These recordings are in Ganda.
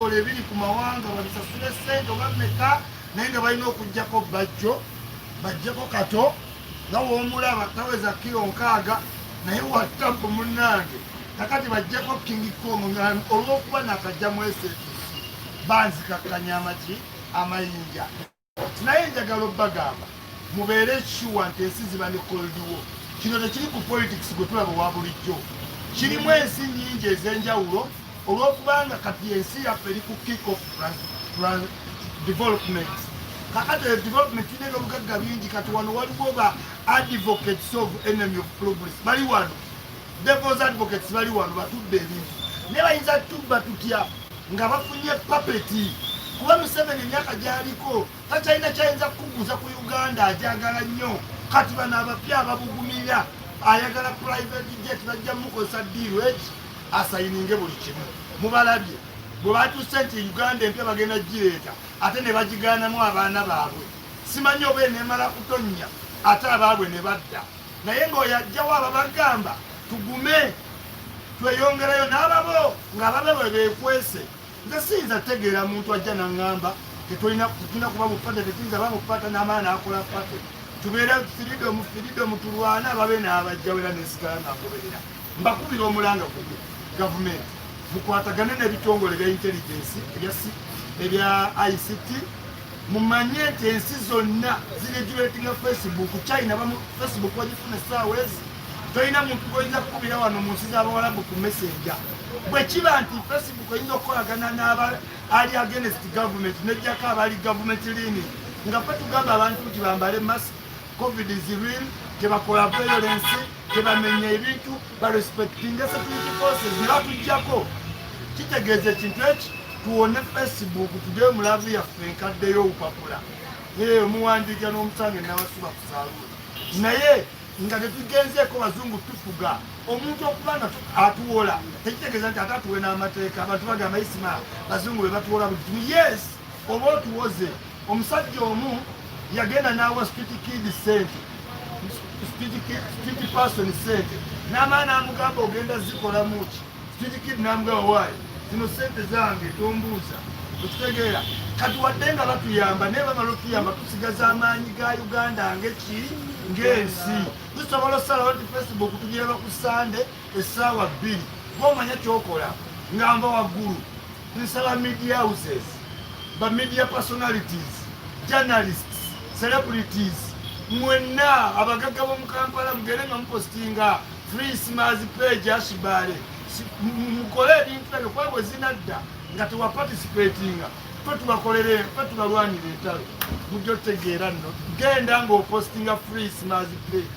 ebitongole ebiri ku mawanga babisasule sente oba meka naye nga balina okugjako bajjo bajjeko kato nga womulaba taweza kiro nkaaga naye watapu munange kakati bajjeko kingi kong olwokuba nakajja mwese banzikakkanya amaki amayinja naye njagala obbagamba mubeere sure nti ensi ziba ne koldiwo kino tekiri ku politics gwe tulaba owa bulijjo kirimu ensi nyingi ez'enjawulo olw'okubanga kati ensi yaffe eri ku kick of development kakati eyo development tulina ebyobugagga bingi kati wano waliwo ba advocates of enemy of progress bali wano Devil's advocates bali wano batudde ebintu naye bayinza tubba tutya nga bafunye papeti kuba museveni emyaka gyaliko takyalina kyayinza kukuguza ku uganda ajagala nnyo kati bano abapya ababugumira ayagala private jet bajja mukozesa diiru eki asayininge buli kimu mubalabye bwe batuuse nti uganda empya bagenda gireeta ate ne bagigaanamu abaana baabwe simanyi oba enemala kutonnya ate abaabwe ne badda naye ng'oyo ajjawo ababagamba tugume tweyongerayo n'ababo ng'ababe bwe beekwese nze siyinza tegeera muntu ajja naŋŋamba tetulina kuba mupate tetuyinza ba mupata n'amaana akola pate tubeera firidomu firidomu tulwana ababe n'abajjawo era nesigala ng'agoberera Mbakubira omulanga gumu gavumenti mukwatagane n'ebitongole bya intelligence ebya ICT mumanye nti ensi zonna ziregulatinga facebook china bamu facebook wagifuna essaawa ezi tolina muntu gwoyinza kukubira wano mu nsi z'abawalabu ku messenger bwe kiba nti facebook oyinza okukolagana n'aba ali against government nejjako abali government lini nga fe tugamba abantu nti bambale mask covid is real tebakola violence tebamenya ebintu barespectinga security forces nebatujjako kitegeeza ekintu eki tuwone facebook tugeyo mulavu yaffe enkaddeyo obupapula eyo muwandiika n'omusange nabasuba kusaaluula naye nga tetugenzeeko bazungu tufuga omuntu okuba nga atuwola tekitegeeza nti ate atuwe n'amateeka abantu bagamba isima bazungu be batuwola buli kimu yes oba otuwoze Omusajja omu yagenda n'awa Street Kid ssente, Street Kid, Street Person ssente n'amala n'amugamba ogenda zikolamu ki? Street Kid n'amugamba waayo zino ssente zange tombuuza okitegeera kati wadde nga batuyamba naye bamala otuyamba tusigaza amaanyi ga uganda ngeki ng'ensi tusobola osalawo nti facebook tugiraba ku sande essaawa bbiri gomanya kyokola ngamba waggulu Nsaba media houses, ba media personalities, journalists, celebrities mwenna abagagga b'omu Kampala mugere nga mupostinga free smas page ashibale mukole ebintu ebyo kuba bwe zinadda nga tewa participatinga fe tubakolere fe tubalwanira entalo mujja otegeera nno genda ng'opostinga free smas page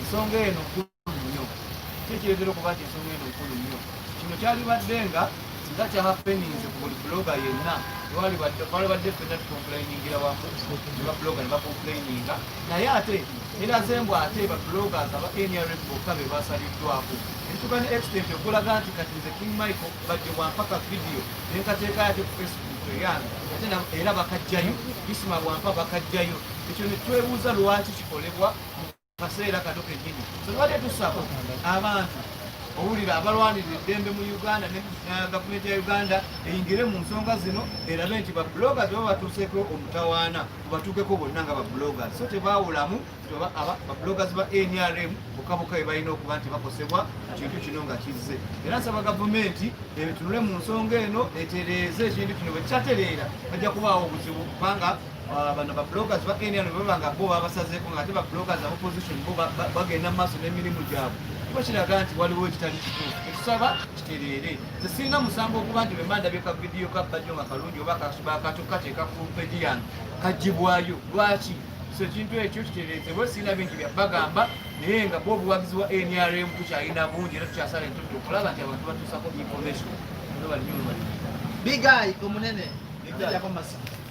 ensonga eno nkulu nnyo ki ekireetera okuba nti ensonga eno nkulu nnyo kino kyalibadde nga nga kyahapeninze ku buli buloga yenna twalibadde fenna tukomplainingira wamu ne babuloga ne bakomplaininga naye ate eraze mbu ate babulogas aba nrm bokka be basaliddwako entuka ne extent okulaga nti kati nze king michael bajje bwampaka vidiyo nenkateeka yate ku facebook eyange ate era bakajjayo isima bwampa bakajjayo ekyo ne twebuuza lwaki kikolebwa kaseera kato kenyini tubadde tusaba abantu owulira abalwanirira eddembe mu uganda ne gavumenti ya uganda eyingire mu nsonga zino erabe nti bablogers baba batuuseeko omutawaana batuukeko bonna nga bablogers so tebawulamu bablogers ba nrm bokaboka be balina okuba nti bakosebwa ekintu kino nga kizze era nsaba gavumenti ebitunule mu nsonga eno etereeze ekintu kino bwe kikyatereera bajja kubaawo obuzibu kubanga Ah, bano ba bloggers ba NRM baba nga bo babasazeeko nga ate ba bloggers aba opposition bo bagenda mu maaso n'emirimu gyabwe kiba kiraga nti waliwo ekitali kituufu etusaba kitereere nze sirina musango okuba nti bwe mandabye ka vidiyo ka bajjo nga kalungi oba kasobakato kateeka ku peji yange kagibwayo lwaki so ekintu ekyo kitereezebwe sirina bingi bya bagamba naye nga bo obuwagizi wa NRM tukyalina bungi era tukyasala entutu okulaba nti abantu batuusako information big eye omunene ekijako masikiti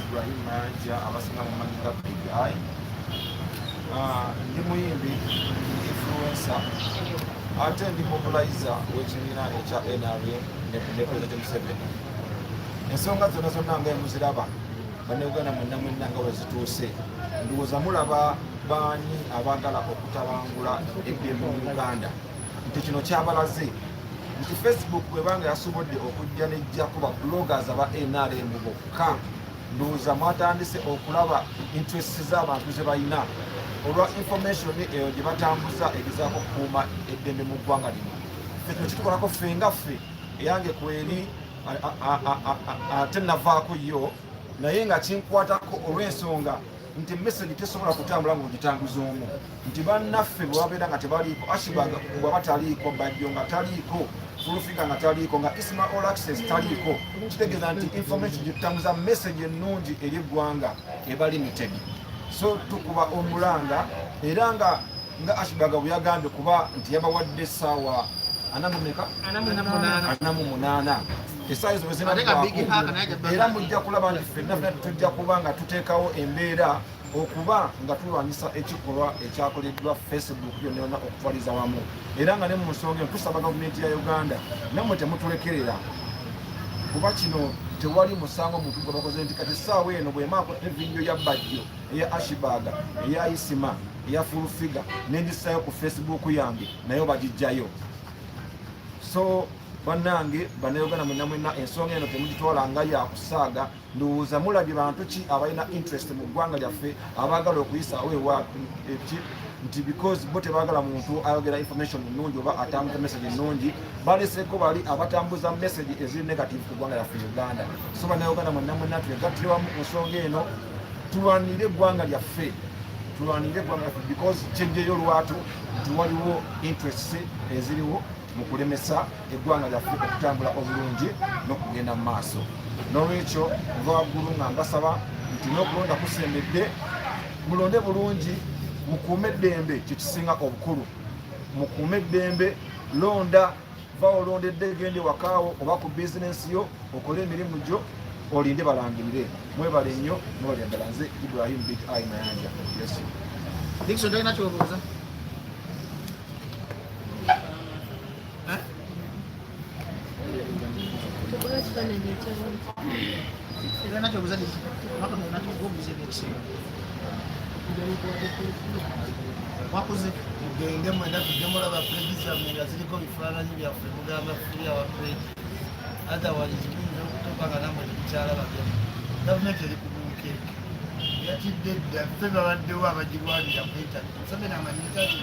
Ibrahim Mayanja abasinga mumanyi nga Big Eye ah, ndi muyimbi influencer ate ndi mobilizer w'ekibiina ekya NRM ne President Museveni ensonga zonna zonna nga emuziraba bannayuganda mwenna mwenna nga wezituuse ndowooza mulaba baani abaagala okutabangula eddembe mu Uganda nti kino kyabalaze nti facebook bwebanga yasobodde okujja nejjako ba bloggers aba nrm bokka ndowooza mwatandise okulaba interest z'abantu ze balina olwa information eyo gye batambuza egezaako okukuuma eddembe mu ggwanga lino fe kino kitukolako ffe nga ffe eyange kweri ate navaako yo naye nga kinkwatako olw'ensonga nti message tesobola kutambula nga ogitambuza omu nti bannaffe bwebabeera nga tebaliiko ashibaga bwaba taliiko bajjo nga taliiko fulufiga nga taliiko nga isma all access taliiko kitegeeza nti information gyetutambuza message ennungi eri eggwanga eba limited so tukuba omulanga era nga nga ashibaga bweyagambye kuba nti yabawadde essaawa anamumeka anamu munaana esaayo zo bwezinagwaku era mujja kulaba nti fenna fena tujja kuba nga tuteekawo embeera okuba nga tulwanyisa ekikolwa ekyakoleddwa facebook yonayona okutwaliza wamu era nga ne mu nsonga eno tusaba gavumenti ya uganda namwe temutulekerera kuba kino tewali musango muntu gwe bakoze nti kati essaawa eno bwemaako evidiyo ya bajjo eya ashibaga eya isima eya fulfiga nendisayo ku facebook yange nayo bagijjayo so banange banayogana mwena mwena ensonga eno temugitwala nga yakusaaga ndowooza mulabye bantu ki abalina interest mu ggwanga lyaffe abaagala okuyisaawo ewa eki nti because bo tebagala muntu ayogera information ennungi oba atambuza message ennungi baleseko bali abatambuza message eziri negative ku ggwanga lyaffe uganda so banayogana mwena mwena twegattire wamu ku nsonga eno tulwanire eggwanga lyaffe tulwanire eggwanga lyaffe because kyejjeyo lwatu nti waliwo interests eziriwo mu kulemesa eggwanga lyaffe okutambula obulungi n'okugenda mu maaso n'olwekyo nva waggulu nga mbasaba nti n'okulonda kusembedde mulonde bulungi mukuume eddembe kyekisinga obukulu mukuume eddembe londa va olondedde gende wakaawo oba ku bizinensi yo okole emirimu gyo olinde balangirire mwebale nnyo mwebale ddala nze ibrahim big i mayanja yesu wakoze mugende mwenda tujje mulaba pulegi zammwe nga ziriko bifaananyi byaffe mugamba fuli awa pulegi otherwise muyinza okutuuka nga namwe temukyalaba byaffe gavumenti eri kubuukeeke yatidde dda ffe babaddewo abagirwanira ku intaneti museveni amanyitaki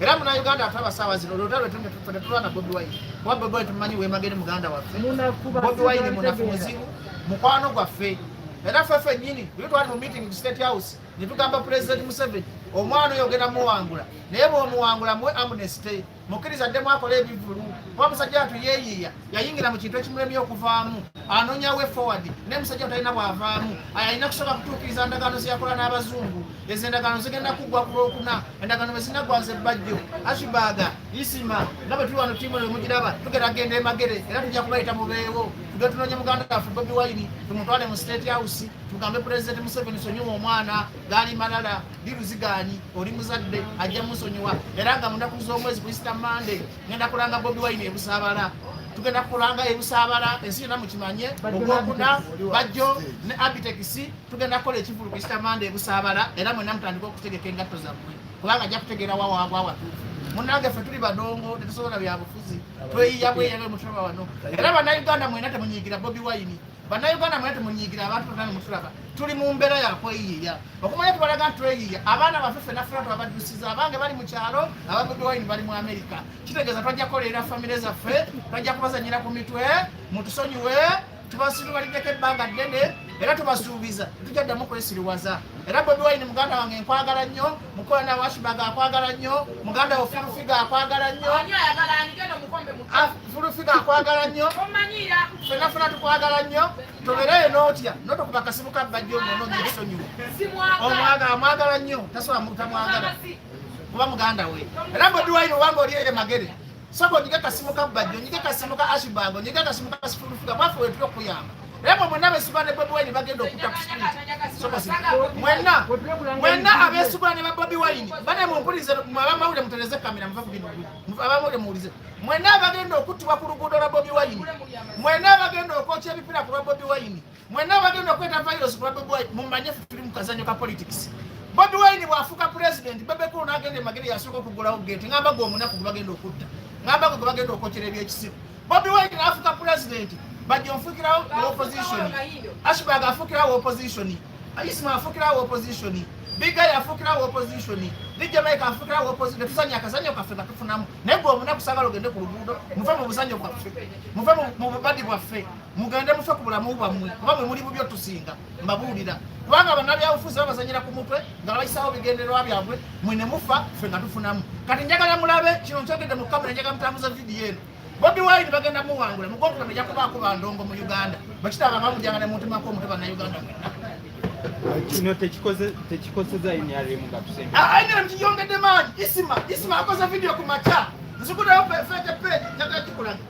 era muna Uganda ate abasawa zino lwota lwetunde tufune tulwana Bobi Wine kuba Bobi Wine tumumanyi wemagere muganda waffe Bobi Wine munafu muzibu mukwano gwaffe era ffe fennyini buli twali mu meeting ku State House ne tugamba President Museveni omwana oyo ogenda muwangula naye bw'omuwangula muwe amnesty mukkiriza addemu akola ebivulu kuba musajja atu yeeyiiya yayingira mu kintu ekimulemye okuvaamu anoonya we forward naye musajja talina bwavaamu alina kusobola kutuukiriza ndagaano zeyakola n'abazungu ezo endagaano zigenda kuggwa ku lwokuna endagaano bwezinaggwa nze bajjo ashibaaga isima nga bwe tuli wano tiimu lwe mugiraba tugera genda emagere era tujja kubayita mubeewo tuge tunoonya muganda waffe bobi wayini tumutwale mu state house tugambe pulezidenti museveni sonyiwa omwana gaali malala diruzigaanyi oli muzadde ajja musonyiwa era nga munaku z'omwezi kuyisita mande ngenda kulanga bobi wine ebusaabala tugenda kulanga ebusaabala ensi yona mukimanye ogwokuna bajjo ne abitekisi tugenda kukola ekivulu kisitamanda ebusaabala era mwena mutandika okutegeka engatto zammwe kubanga ajja kutegeera wawaabwa watuufu munange ffe tuli badongo tetusobola byabufuzi tweyiya bweyabe mutima wano era banauganda mwena temunyigira bobi wine bannayuganda mwena temunyiigira abantu bonna nemutulaba tuli mu mbeera yakweyiiya okumanya tubalaga nti tweyiiya abaana baffe ffe naffe natu abaddusiza abange bali mu kyalo ababudde wayini bali mu amerika kitegeeza twajja kukolerera famire zaffe twajja kubazanyira ku mitwe mutusonyiwe tubasiriwaliddeko ebbanga ddene era tubasuubiza tujja ddamu kwesiriwaza era bobi wayini muganda wange nkwagala nnyo mukwano awashibaga akwagala nnyo muganda wo fulufiga akwagala nnyo ah, fulufiga akwagala nnyo fena fena tukwagala nnyo tobereyo notya notokuba kasimu kabbajja omunonya ebisonyiwo omwaga amwagala nnyo tasobola mutamwagala kuba muganda we era bodiwaine obanga oli eye magere soko onyige kasimu ka bajjo onyige kasimu ka ashibango onyige akasimu ka sifulufuga mwaffe wetuli okukuyamba naye mwe mwenna abeesibwa ne bobi wayini bagenda okutta ku sipiiti soko si mwenna mwenna abeesibwa ne ba bobi wayini bane mumpulirize abamawulire mutereze kamera muva ku bino abamawulire muwulize mwenna abagenda okuttibwa ku luguudo lwa bobi wayini mwenna abagenda okwokya ebipiira ku lwa bobi wayini Mwenna abagenda okweta virus ku Bobi Wine mumanye ffe tuli mu kazanyo ka politics. Bobi Wine bw'afuuka pulezidenti Bebe Cool n'agenda e Magere yasooka okuggulawo geeti ng'amba gwe omunaku gwe bagenda okutta ng'amba gwe gwe bagenda okwokera ebyekisiru. Bobi Wine n'afuuka pulezidenti bajja onfuukirawo opposition Ashburg afuukirawo opposition Isma afuukirawo opposition Bigay afuukirawo opposition DJ Mike afuukirawo opposition tusanye akazanyo kaffe nga tufunamu naye gwe omunaku sagala ogende ku luguudo muve mu buzanyo bwaffe muve mu bubadi bwaffe mugende mufe ku bulamu bwammwe kuba mwe muli bubyo tusinga mbabuulira kubanga banabyabufuzi babazanyira ku mutwe nga babayisawo bigendererwa byabwe mwe ne mufa ffe nga tufunamu kati njagala mulabe kino nkyogedde mu kamera njagala mutambuza vidiyo eno bobi wine bagenda muwangula mugokuna meja kubaako bandongo mu uganda bakitaba bamujanga ne muntu mako omuntu banauganda mwenna kino tekikozeza nrm nga tusembe ah, nrm kiyongedde maanyi isima isima akoze vidiyo ku makya nzikudayo fete page njagala kikulaga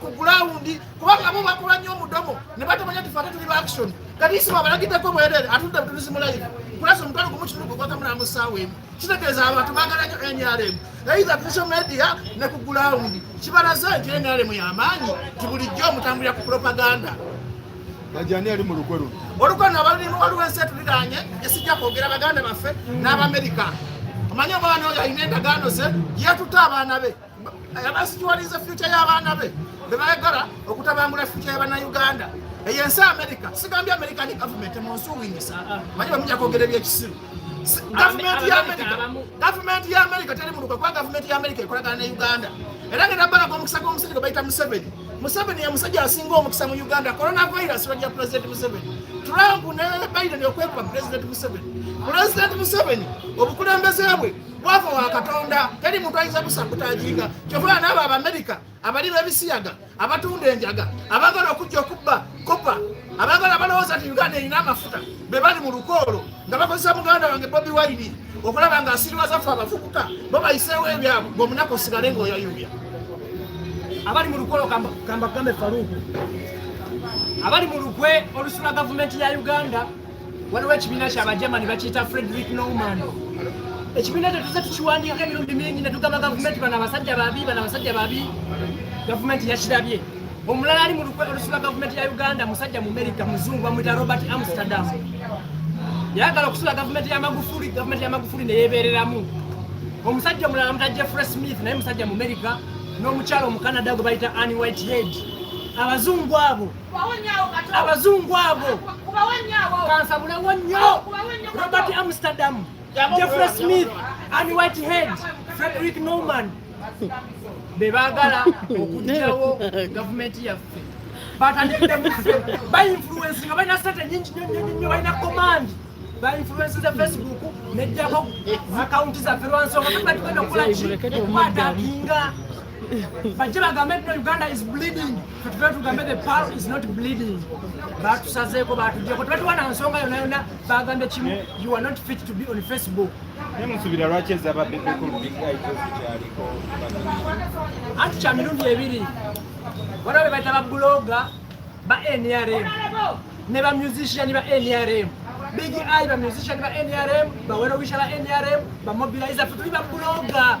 ku gulawundi kubanga bo bakola nnyo omudomo ne batamanya nti fate tuli baaction kati isimu abalagideko bwerere atudde butulizi mulayi kulasa omutwalo gumu kinuku gwakamula mu ssaawa emu kitegeeza abantu baagala nnyo nrm eitha ku social media ne ku gulawundi kibalaze nti nrm y'amaanyi nti bulijjo omutambulira ku propaganda ajani ali mu lukwe luno olukwe no abalimu waliwo ensi etuliraanye esijja kwogera baganda baffe n'abamerika omanyi omwana oyo alina endagaano ze yetutte abaana be abasituwaliza fyuca y'abaana be be baagala okutabangula fyuca y'abannayuganda eyo ensi amerika sigambye amerika ni gavumenti munsuwingisa manye bamuja kwogera ebyekisiru gavumenti ya amerika gavumenti ya amerika teri muluka kuba gavumenti ya amerika ekolagana ne uganda era ngenda balaga omukisa gw'omusajja gwe bayita museveni museveni ye musajja asinga omukisa mu uganda coronavirus lwajja pulezidenti museveni trump ne biden okwekuba pulezidenti museveni pulezidenti museveni obukulembeze bwe bwavu wa katonda teri muntu ayinza musabutaginga kyovula naabo abamerika abali bebisiyaga abatunda enjaga abagala okujja okubba kopa abagala balowooza nti uganda erina amafuta be bali mu lukoolo nga bakozesa muganda wange bobi waini okulaba nga asiriwaza fe abavubuka bo bayiseewo ebyabwe ngaomunaku osigale ngaoyayuya abali mu lukoolo kambagambe faluuku abali mu lukwe olusula gavumenti ya uganda waliwo ekibiina kyabajamani bakiyita frederick norman ekibiina ekyo tuze tukiwandiika emirundi mingi ne tugamba gavumenti bano abasajja babi bano abasajja babi gavumenti yakirabye omulala ali mu lukwe olusula gavumenti ya uganda musajja mu merika muzungu bamwita robert amsterdam yagala okusula gavumenti ya magufuli gavumenti ya magufuli neyebereramu omusajja omulala muta jeffrey smith naye musajja mu merika n'omukyalo omukanada gwe bayita ann whitehead abazungu abo abazungu abo kansabulewo nnyo robert amsterdam jeffrey smith and whitehead frederick norman be baagala okugyawo gavumenti yaffe bainfluensi nga balina sente nyingi nyonyonyo balina komandi bainfluensi za facebook nejjako akawunti zaffe lwansonga tugenda okukola ki okukwatakinga bajje bagambe nti uganda is bleeding fetuve tugambe the pal is not bleeding batusazeeko batujeko tebatuwa na nsonga yona yona bagambe kimu you are not fit to be on facebook nemusubira lwaki ezaba bebekulubigaikyaliko anti kya mirundi ebiri waliwo bebaita babuloga ba nrm ne ba musician ba nrm big i ba musician ba nrm bawerowisha ba nrm bamobiliza fetuli babuloga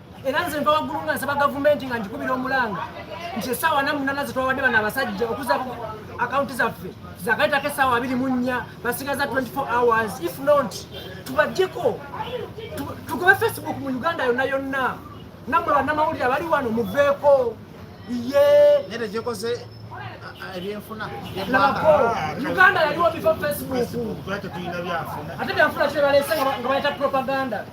era nze nva waggulu nga nsaba gavumenti nga ngikubira omulanga nti esaawa namunana zetwawadde bano abasajja okuza akawunti zaffe zagaitako esaawa abiri mu nnya basigaza 24 hours if not tubajjeko tugobe facebook mu uganda yonna yonna namwe bannamawulire abali wano muveeko ye ebyenfuna uganda yaliwo bifo facebook ate byanfuna kyebalese nga baleta propaganda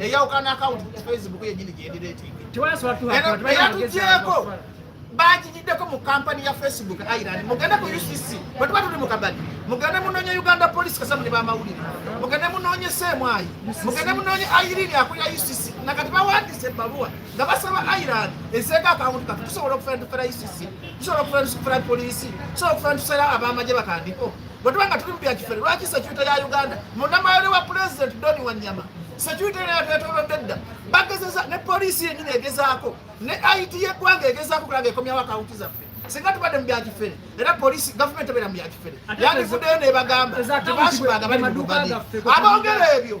eyawukana akawunti ku facebook yenyini gyendireeteeyatugyeko bagigiddeko mu kampani ya facebook ireland mugende ku ucc bwetuba tuli mu kabadi mugende munoonye uganda police kasamu ne bamawulire mugende munoonye seemwayi mugende munoonye irini akulira ucc nakati bawandise ebbaluwa nga basaba ireland ezeeko akawunti kati tusobola okufera tufera ucc tusobola okufera tufera polisi tusobola okufera tufera abamagye bakandiko bwe tuba nga tuli mu bya kifere lwaki sekyuta ya uganda munamayole wa pulezidenti doni wanyama sekyuta era yatwetolodde dda bagezeza ne poliisi yenyini egezaako ne it yeggwanga egezaako kulaga ekomyawo akawunti zaffe singa tubadde mu byakifere era polisi gavumenti ebeera mu byakifere yandivuddeyo nebagamba tebasibanga bali mu lugadi abongera ebyo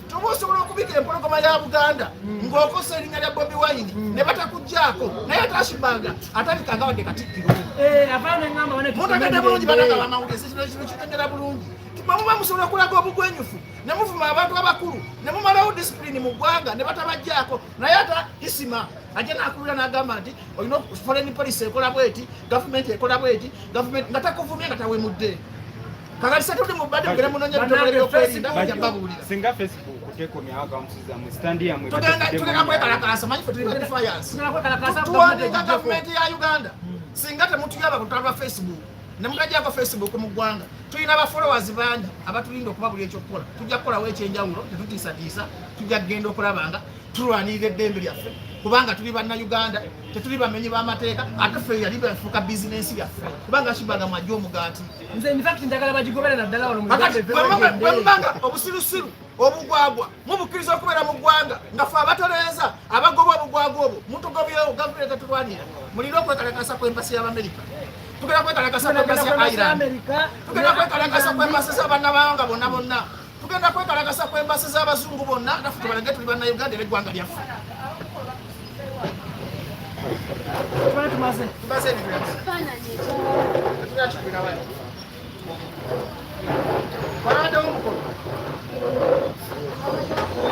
oba osobola okubika empologoma ya buganda ng'okosa erinnya lya bobi wayini mm. ne batakuggyako naye tashibaga atabika nga wadde katikkiro eh, mutagadde bulungi banaga bamawulire sekino kino kitengera bulungi mwe muba musobola okulaga obugwenyufu ne muvuma abantu abakulu ne mumalawo disipulini mu ggwanga ne batabaggyako naye ata isima ajja nakubira nagamba nti olina foreign policy ekola bweti gavumenti ekola bweti gavumenti nga takuvumye nga tawemudde kakati satudde mu bbadde mugenda munonya bitongole byokwerinda kujja babuulira singa facebook tekomyawo akamusiza mu sitandi yamwe tugenda kwekalakaasa manyi fe tuli badefiance tuwandiika gavumenti ya uganda hmm. singa temutuyaba kutala lwa facebook ne mugajjako facebook mu ggwanga tulina abafollowers bangi abatulinda okuba buli ekyokukola tujja kukolawo ekyenjawulo tetutiisatiisa tujja kugenda okulaba nga tulwanirira eddembe lyaffe kubanga tuli bannayuganda tetuli bamenyi b'amateeka ate ffe yali befuuka bizinensi yaffe kubanga kibaga mwajja omugaati nze in fact njagala bagigobera naddala wano bwemubanga obusirusiru obugwagwa mubukkiriza okubeera mu ggwanga nga fe abatolereza abagoba obugwagwa obwo mutugobyewo gavumenti etatulwanira mulina okwekalakasa kw'empasi y'abamerika tugenda kwekalakasa kw'empasi ya iran tugenda kwekalakasa kw'empasi z'abanna bawanga bonna bonna tugenda kwekalakasa ku embasi z'abazungu bonna naffe tubalage tuli bannayuganda era eggwanga lyaffe Thank you.